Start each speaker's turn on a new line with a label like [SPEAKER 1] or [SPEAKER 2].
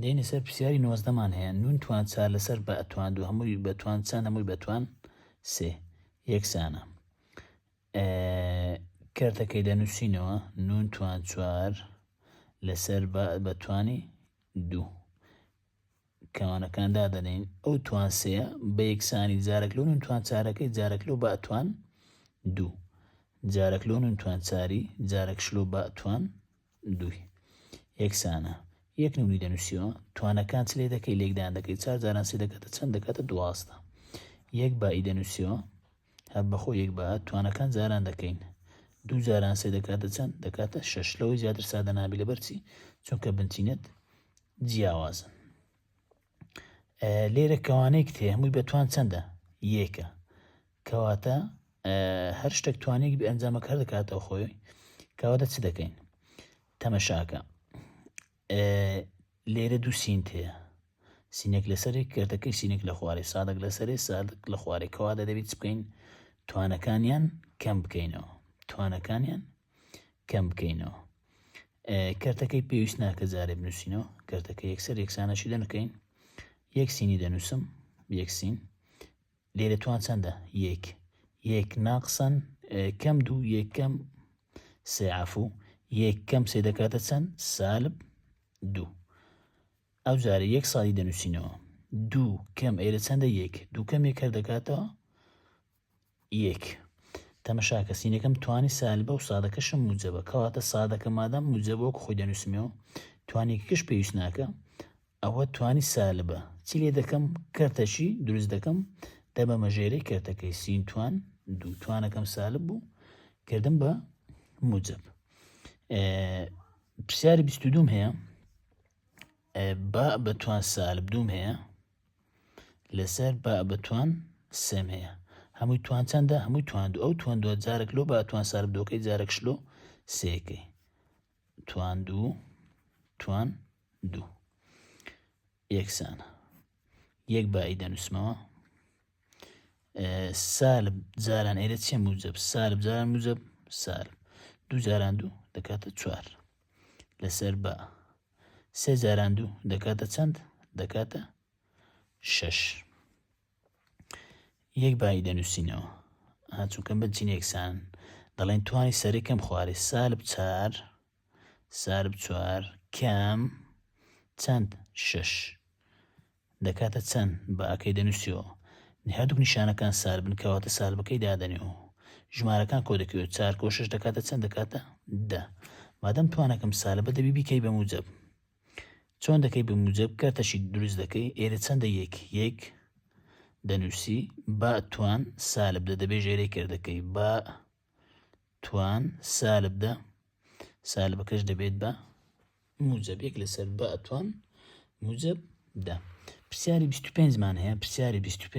[SPEAKER 1] دێینە سەر پرسیاری نۆزدەمان هەیە نون توان چار لەسەر بە ئەتوان دوو هەمووی بەتوان چەند هەمووی بەتوان سێ یەکسانە کەرتەکەی لە نووسینەوە نون توان چوار لەسەر بە بەتوانی دوو کەوانەکان دادەنین ئەو توان سێ بە یەکسانی جارەک لە نون توان چارەکەی جارەک لەو بەتوان دوو جارەک لۆ نون توان چاری جارەک شلۆ بەتوان دووی. یەکسانە. یەک نمونەی دەنووسیەوە توانەکان چ لێ دەکەی لێکدان دەکەی چار جاران سێ دەکاتە چەند دەکاتە دوازدە یەک بائی دەنووسیەوە هەر بەخۆ یەک با توانەکان جاران دەکەین دوو جاران سێ دەکاتە چەند دەکاتە شەش لەوەی زیاتر سادە نابی لە بەرچی چونکە بنچینەت جیاوازن لێرە کەوانەی کتێ هەمووی بە توان چەندە یەکە کەواتە هەر شتێک توانێک بە ئەنجامە کار دەکاتەوە خۆی کەواتە چ دەکەین تەمەشاکە لێرە دوو سینت هەیە سینێک لەسەری کردەکەی سینێک لە خوارێ سادەک لەسەرێ سادک لە خوارێ کەواتە دەبیت بکەین توانەکانیان کەم بکەینەوە توانەکانیان کەم بکەینەوە کەرتەکەی پێویست ناکە جارێ بنووسینەوە کەرتەکە یەکسەر یەکسانەشی دەنکەین یەک سینی دەنووسم یەک سین لێرە توان چەندە یەک یەک ناقسەن کەم دوو یەکەم سێعافو یەک کەم سێ دەکاتە چەند سالب دوو ئەو جارە یەک ساڵی دەنووسینەوە دوو کەم ئێرە چەندە یەک دوو کەم یەکەر دەکاتەوە یەک. تەمەشاکە سینەکەم توانی سالبە و سادەکەشم موجەبە کەواتە سادەکە مادام موجەبە وەکو خۆی دەنووسمەوە توانیکەکەش پێویست ناکە ئەوە توانی سالبە چی لێ دەکەم کەرتەچی دروست دەکەم دەبەمە ژێرەی کەرتەکەی سین توان دوو توانەکەم سالب بوو کردم بە موجب پرسیاری بیست دوم هەیە با بە توان سالب دوم هەیە لەسەر با بە توان سێم هەیە هەمووی توان چەندە هەمووی توان دوو ئەو توان دووە جارێک لۆ با توان سار بدۆکەی جارێک شلۆ سێکەی توان دوو توان دوو یەکسانە یەک بایی دەنووسمەوە سالب جاران ئێرە چێ موجب سالب جاران موجب سالب دوو جاران دوو دەکاتە چوار لەسەر بە سێ جاران دوو دەکاتە چەند دەکاتە شەش یەک بایی دەنووسینەوە هاچووکە بچین یەکسان دەڵێن توانی سەرەکەم خوارێ سالب چار سالب چوار کەم چەند شش دەکاتە چەن بە ئەکەی دەنوسی و هەردوک نیشانەکان سار بن کەواتە سالبەکەی دادەنێ و ژمارەکان کۆدەکەوێ و چار کۆ شەش دەکاتە چەن دەکاتە دە مادەم توانەکەم سالبە دەبی بیکەی بە موجەب چۆن دەکەی بە موجەب کەرتەشی دروست دەکەی ئێرە چەندە یەک یەک دەنوسی با توان سالب دە دەبێ ژێرەی کردەکەی با توان سالب دە سالبەکەش دەبێت بە موجب یەک لەسەر بە توان موجب دە پرسیاری 25 مان هەیە پرسیاری 25